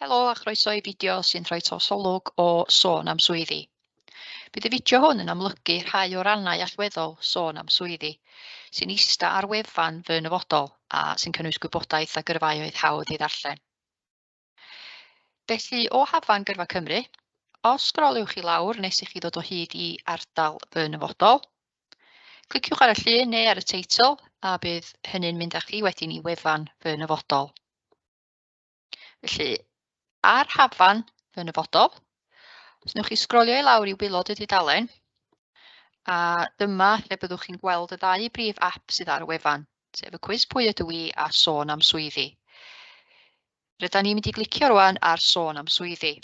Helo a chroeso i fideo sy'n rhoi trosolwg o sôn am swyddi. Bydd y fideo hwn yn amlygu rhai o rannau allweddol sôn am swyddi sy'n ista ar wefan fy nyfodol a sy'n cynnwys gwybodaeth a gyrfaoedd hawdd i ddarllen. Felly, o hafan gyrfa Cymru, os sgroliwch i lawr nes i chi ddod o hyd i ardal fy nyfodol, Cliciwch ar y llun neu ar y teitl a bydd hynny'n mynd â chi wedyn i wefan fy nyfodol. Felly, ar hafan fy nyfodol, os newch chi sgrolio i lawr i wylod y dudalen, a dyma lle byddwch chi'n gweld y ddau brif app sydd ar y wefan, sef y cwis pwy ydw i a sôn am swyddi. Ryda ni'n mynd i glicio rwan ar sôn am swyddi.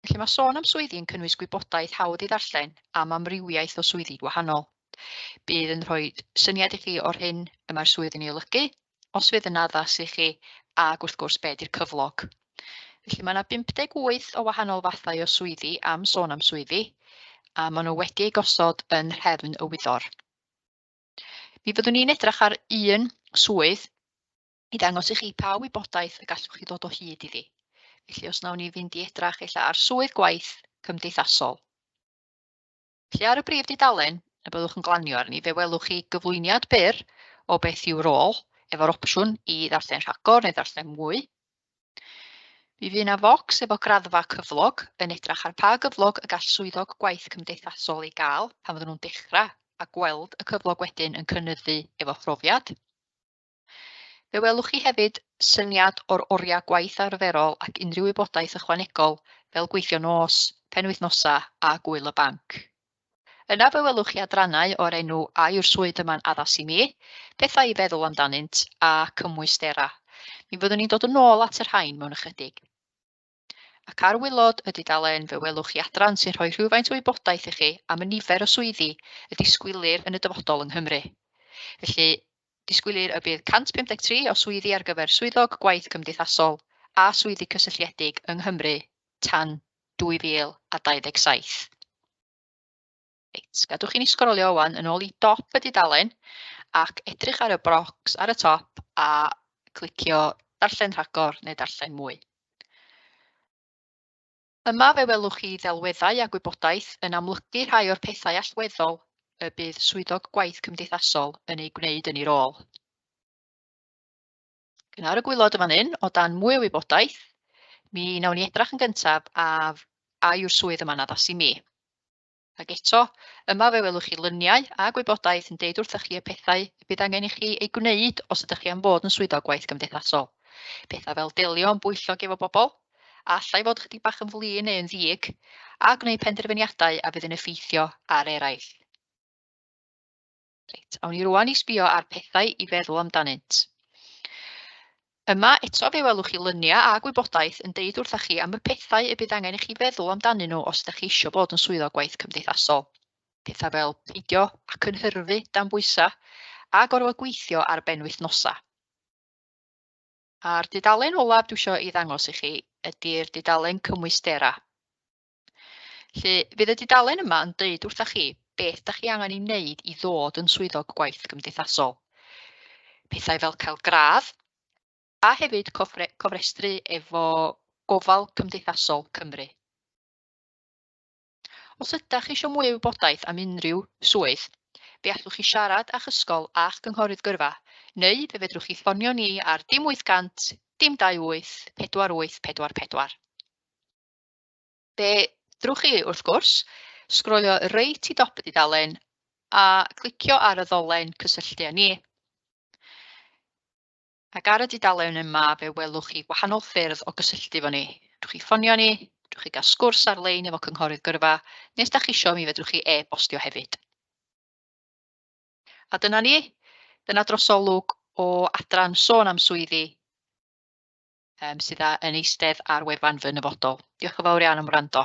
Felly mae sôn am swyddi yn cynnwys gwybodaeth hawdd i ddarllen am amrywiaeth o swyddi gwahanol. Bydd yn rhoi syniad i chi o'r hyn y mae'r swydd yn ei olygu, os fydd yn addas i chi, ac wrth gwrs be di'r cyflog. Felly mae yna 58 o wahanol fathau o swyddi am sôn am swyddi, a maen nhw wedi eu gosod yn rhefn y wyddor. Mi fyddwn ni'n edrych ar un swydd i ddangos i chi pa wybodaeth y gallwch chi ddod o hyd iddi. Felly os nawn ni fynd i edrach ella ar swydd gwaith cymdeithasol. Felly ar y brif dudalen y byddwch yn glanio arni, fe welwch chi gyflwyniad byr o beth yw'r rôl, efo'r opsiwn i ddarllen rhagor neu ddarllen mwy. Mi fydd yna focs efo graddfa cyflog yn edrach ar pa gyflog y gall swyddog gwaith cymdeithasol ei gael pan fydden nhw'n dechrau a gweld y cyflog wedyn yn cynnyddu efo phrofiad. Fe welwch chi hefyd syniad o'r oriau gwaith arferol ac unrhyw wybodaeth ychwanegol fel gweithio nos, penwythnosa a gwyl y banc. Yna fe welwch chi adrannau o'r enw A yw'r swydd yma'n addas i mi? Pethau i feddwl amdanynt a cymwystera. Mi fyddwn ni'n dod yn ôl at y rhain mewn ychydig. Ac ar waelod y dudalen fe welwch chi adran sy'n rhoi rhywfaint o wybodaeth i chi am y nifer o swyddi y disgwylir yn y dyfodol yng Nghymru. Felly, disgwylir y bydd 153 o swyddi ar gyfer Swyddog Gwaith Cymdeithasol a Swyddi Cysylltiedig yng Nghymru tan 2027. Reit, gadwch i ni sgrolio wan yn ôl i dop y dudalen ac edrych ar y brocs ar y top a clicio darllen rhagor neu darllen mwy. Yma fe welwch chi ddelweddau a gwybodaeth yn amlygu rhai o'r pethau allweddol y bydd swyddog gwaith cymdeithasol yn ei gwneud yn ei rôl. Gynnau'r y gwylod yma'n un, o dan mwy o wybodaeth, mi wnawn ni edrach yn gyntaf af a yw'r swydd yma'n addas i mi. Ac eto, yma fe welwch chi luniau a gwybodaeth yn deud wrthych chi y pethau y bydd angen i chi ei gwneud os ydych chi am fod yn Swyddog Gwaith Gymdeithasol. Pethau fel delio yn bwyllog efo bobl, a allai fod ychydig bach yn flin neu yn ddiig, a gwneud penderfyniadau a fydd yn effeithio ar eraill. Reit, awn ni rwan i sbio ar pethau i feddwl amdanynt. Yma eto fe welwch chi lyniau a gwybodaeth yn deud wrthych chi am y pethau y bydd angen i chi feddwl amdanyn nhw os ydych chi eisiau bod yn swyddog gwaith cymdeithasol. Pethau fel peidio a cynhyrfu dan bwysau a gorfod gweithio ar ben wythnosau. A'r dudalen olaf dwi eisiau ei ddangos i chi ydy'r dudalen cymwystera. Felly, fydd y dudalen yma yn deud wrthych chi beth da chi angen ei wneud i ddod yn swyddog gwaith gymdeithasol. Pethau fel cael gradd a hefyd cofre, cofrestru efo gofal cymdeithasol Cymru. Os ydych chi eisiau mwy o wybodaeth am unrhyw swydd, fe allwch chi siarad â'ch ysgol a'ch cynghorydd gyrfa, neu fe fedrwch chi ffonio ni ar dim 800 dim 28 48 44. Be ddrwch chi, wrth gwrs, sgrolio reit i dop y dudalen a clicio ar y ddolen cysylltu â ni. Ac ar y dudalen yma fe welwch chi wahanol ffyrdd o gysylltu efo ni. Rwy'ch chi ffonio ni, rwy'ch chi gael sgwrs ar-lein efo cynghorydd gyrfa, neu os da chi eisiau mi fedrwch chi e-bostio hefyd. A dyna ni, dyna drosolwg o adran sôn am swyddi um, sydd yn eistedd ar wefan fy nyfodol. Diolch yn fawr iawn am wrando.